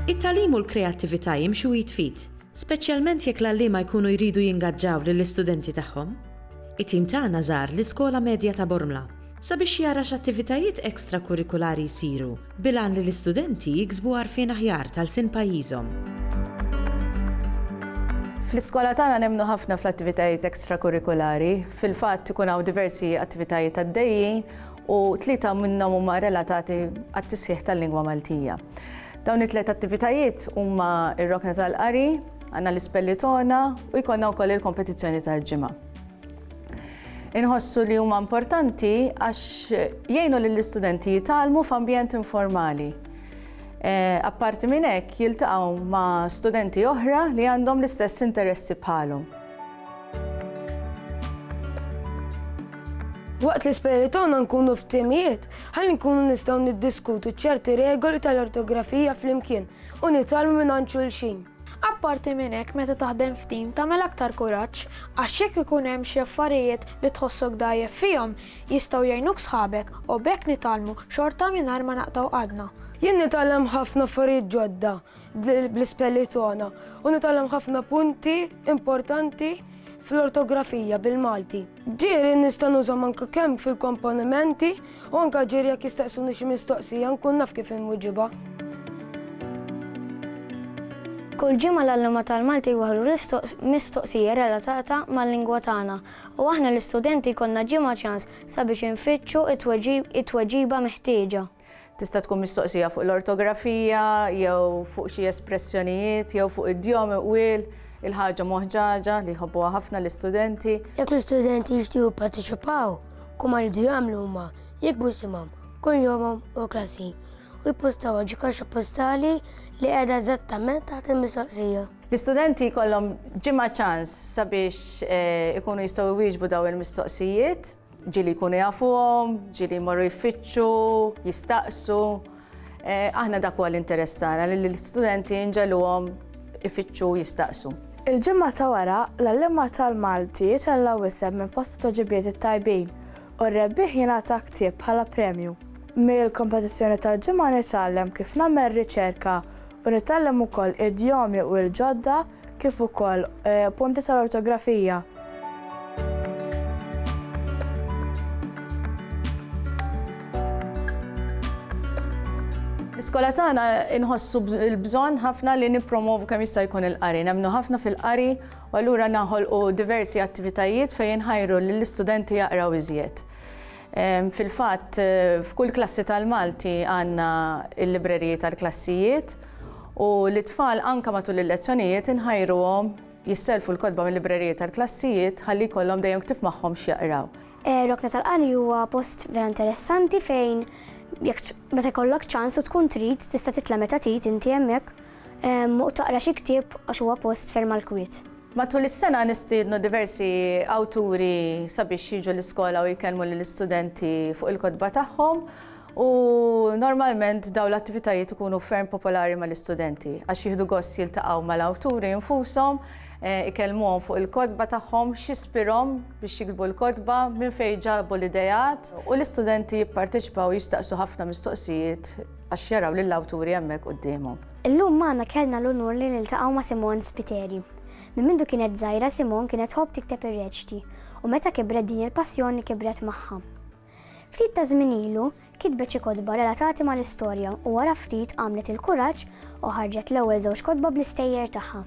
It-tagħlim u l-kreattività jimxu id f'id, speċjalment jekk l-għalliema jkunu jridu jingaġġaw lill-istudenti tagħhom. It-tim tagħna żar l-Iskola Medja ta' Bormla sabiex jara x'attivitajiet ekstrakurrikulari jsiru bil-għan li l-istudenti jiksbu għarfien aħjar ta' lsien pajjiżhom. Fl-iskola tagħna nemmnu ħafna fl-attivitajiet ekstrakurrikulari. Fil-fatt ikun hawn diversi attivitajiet għaddejjin u tlieta minnhom huma relatati għat-tisħiħ tal-lingwa Maltija. Dawn it-tliet attivitajiet huma r-rokna tal-qari, għandna l-ispellitona u jkollna wkoll il-kompetizzjoni tal-ġimgħa. Inħossu li huma importanti għax jgħinu lill-istudenti jitgħallmu f'ambjent informali. Eh, apparti minn hekk jiltaqgħu ma' studenti oħra li għandhom l-istess interessi bħalhom. Waqt l-isperi tagħna nkunu f'timijiet, ħalli nkunu nistgħu niddiskutu ċerti regoli tal-ortografija flimkien u nitalmu minn xulxin. Apparti minn hekk meta taħdem f'tim tagħmel aktar kuraġġ għax jekk ikun hemm xi affarijiet li tħossok dgħajjef fihom jistgħu jgħinuk sħabek u b'hekk nitgħallmu xorta mingħajr ma naqtgħu għadna. Jien nitgħallem ħafna affarijiet ġodda bl-ispelli togħna u nitgħallem ħafna punti importanti fl-ortografija bil-Malti. Ġieli nista' nużhom anke kemm fil-komponimenti u anke ġieli jekk jistaqsuni xi mistoqsija nkun naf kif inwiġibha. Kull ġimgħa l-għalliema tal-Malti jwaħħlu mistoqsija relatata mal-lingwa tagħna u aħna l-istudenti jkollna ġimgħa ċans sabiex infittxu t-tweġiba meħtieġa. Tista' tkun mistoqsija fuq l-ortografija, jew fuq xi espressjonijiet, jew fuq id-djom iqwiel, il-ħaġa moħġaġa li jħobbuha ħafna l-istudenti. Jekk l-istudenti jixtiequ jipparteċipaw, kum rridu jagħmlu huma jikbu simhom kull jomhom u klassi u jippostaw ġi kaxxa postali li qiegħda eżattament taħt il-mistoqsija. L-istudenti jkollhom ġimgħa ċans sabiex eh, ikunu jistgħu jwieġbu daw il-mistoqsijiet. Ġieli jkunu jafuhom, ġieli jmorru jfittxu, jistaqsu. Eh, aħna dak huwa l-interess tagħna li l-istudenti nġeluhom ifittxu jistaqsu. Il-ġimgħa ta' wara, l-għalliema tal-Malti jitella wisem minn fost toġibiet it-tajbin u r-rebbieħ jingħata ktieb bħala premju. Mill-kompetizzjoni tal-ġimgħa nitgħallem kif nagħmel riċerka u nitgħallem ukoll idjomi u l-ġodda kif ukoll punti tal-ortografija. L-iskola tagħna inħossu l-bżonn ħafna li nippromovu kemm jista' jkun il-qari. Nemmnu ħafna fil-qari u allura naħolqu diversi attivitajiet fejn inħajru lill-istudenti jaqraw iżjed. Fil-fatt, f'kull klassi tal-Malti għandna l-libreriji tal-klassijiet u lit-tfal anke matul il-lezzjonijiet inħajruhom jisselfu l-kotba mil-libreriji tal-klassijiet ħalli jkollhom dejjem ktieb magħhom x'jaqraw. Rokna tal-Qari huwa post vera interessanti fejn jekk meta jkollok ċans u tkun trid tista' titla' meta trid inti hemmhekk u taqra xi ktieb għax huwa post ferm għall-kwiet. Matul is-sena nistiednu diversi awturi sabiex jiġu l-iskola u jkellmu lill-istudenti fuq il-kotba tagħhom u normalment dawn l-attivitajiet ikunu ferm popolari mal-istudenti għax jieħdu gost jiltaqgħu mal-awturi infushom, eh, ikellmuhom fuq il-kotba tagħhom, x'ispirhom biex jiktbu l-kotba, minn fejn ġabu l-ideat u l-istudenti jipparteċipaw jistaqsu ħafna mistoqsijiet għax jaraw lill-awturi hemmhekk quddiemhom. Illum magħna kellna l-unur li niltaqgħu ma' Simone Spiteri. Minn mindu kienet żgħira Simone kienet tħobb tikteb ir-reċti u meta kibret din il-passjoni kibret magħha. Ftit ta' żmien ilu kitbet xi kotba relatati mal-istorja u wara ftit għamlet il-kuraġġ u ħarġet l-ewwel żewġ kotba bl-istejjer tagħha.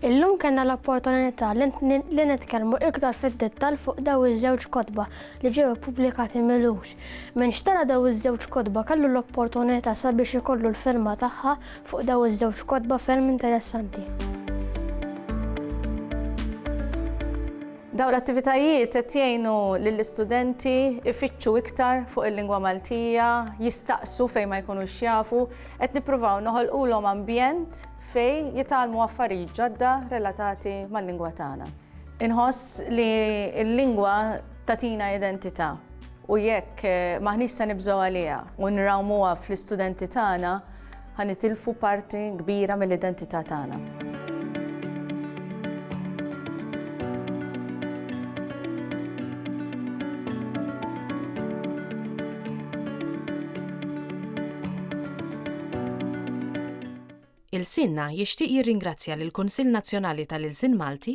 Illum kellna l-opportunità li nitkellmu iktar fid-dettall fuq dawn iż-żewġ kotba li ġew ippubblikati mill-ewwel. Min xtara dawn iż-żewġ kotba kellu l-opportunità sabiex ikollu l-firma tagħha fuq dawn iż-żewġ kotba ferm interessanti. Dawn l-attivitajiet qed jgħinu lill-istudenti ifittxu iktar fuq il-lingwa Maltija, jistaqsu fejn ma jkunux jafu, qed nippruvaw noħolqulhom ambjent fejn jitgħallmu affarijiet ġodda relatati mal-lingwa tagħna. Inħoss li l-lingwa tatina identità. U jekk m'aħniex se nibżgħu għaliha u nrawmuha fl-istudenti tagħna, ħa nitilfu parti kbira mill-identità tagħna. il-sinna jixtieq jirringrazzja lill-Kunsill Nazzjonali tal-Ilsien Malti